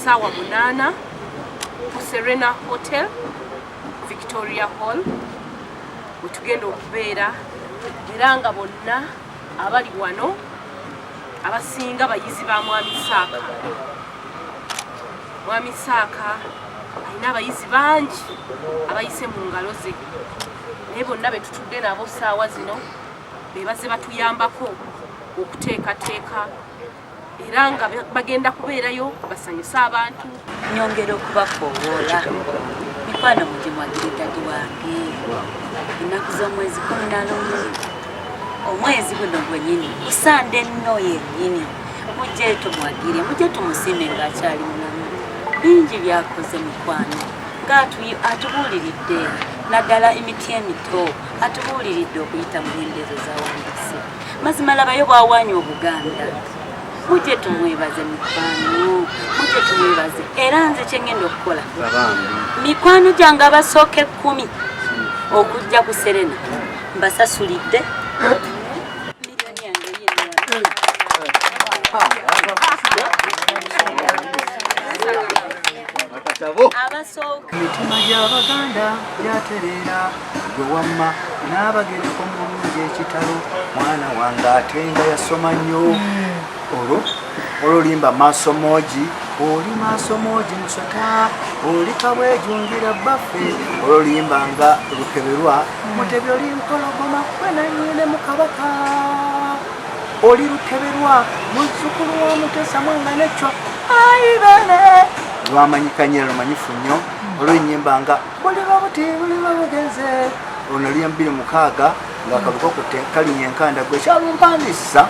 saawa munaana ku serena hotel victoria hall wetugenda okubeera era nga bonna abali wano abasinga bayizi ba mwami saaka mwami saaka alina abayizi bangi abayise mu ngalo ze naye bonna betutudde nabo saawa zino bebaze batuyambako okuteekateeka era nga bagenda kubeerayo basanyuse abantu nyongera okubakoowoola mikwano mugye mwagiridadi wange ennaku z'omwezi kumi na lumu omwezi guno gwenyini kusande nno yennyini mujje tumwagire mujje tumusiime ng'akyali mulamu bingi byakoze mikwano ng'atubuuliridde naddala emiti emito atubuuliridde okuyita mu nyendezo zawandisi mazima labayo bwawanya obuganda mujje tumwebaze mikwano mujje tumwebaze era nze kyengenda okukola mikwano gyange abasooka ekkumi okujja ku serena mbasasulidde abasooka mitima gy'abaganda gyaterera Gwe wamma n'abagereka omulungi ekitalo mwana wange ate nga yasoma nnyo hmm. olwo ololimba maaso moogi oli maaso moogi musota oli kabwejungira bbaffe ololimba nga lukeberwa hmm. mutebi oli mpologoma kwe nanyine mu kabaka oli lukeberwa muzukulu wa mutesa mwanga neccwa aibene lwamanyikanye lumanyifu nnyo hmm. olwenyimba nga buliba buti buliba bugeze ono liya mubiri mukaaga ngaakabuka okutte kalinya enkanda gwe kyalumpandisa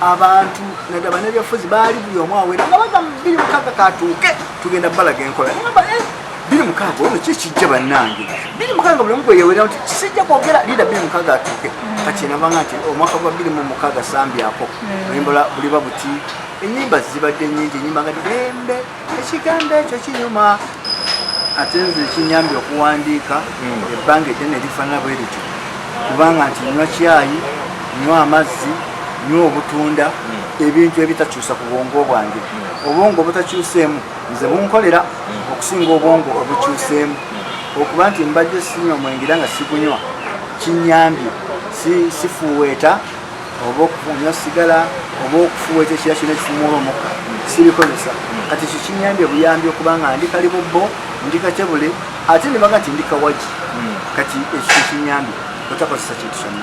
abantu nadaba nebyafuzi baali buli omu awera nga baga biri mukaaga katuuke tugenda balaga enkola namba eh, biri mukaaga ono kikijja bannange biri mukaaga buli omugwe yewera nti kisijja kwogera lida biri mukaaga atuuke mm. kati nabanga nti omwaka gwa biri mu mukaaga sambyako mm. oyimbala buliba buti enyimba zibadde nyingi enyimba nga ddembe ekigambo ekyo kinyuma ate nze ekinyambye okuwandiika hmm. ebbanga eddene erifaanana bwe lityo kubanga nti nywa kyayi nywa amazzi nywa obutunda hmm. ebintu ebitakyusa ku bwongo bwange hmm. obwongo obutakyuseemu nze bunkolera okusinga obwongo obukyuseemu okuba nti mbadde sinywa omwengera nga sigunywa kinyambye sifuweeta oba okufunya sigala oba okufuwa ekyo kira kino ekifumuula omukka sibikozesa kati ekyo kinyambye buyambi okuba nga ndi kali bubbo ndi kakyebule ate nebaga nti ndi kawagi hmm. kati ekyo kyekinyambye otakozesa kintu kyonna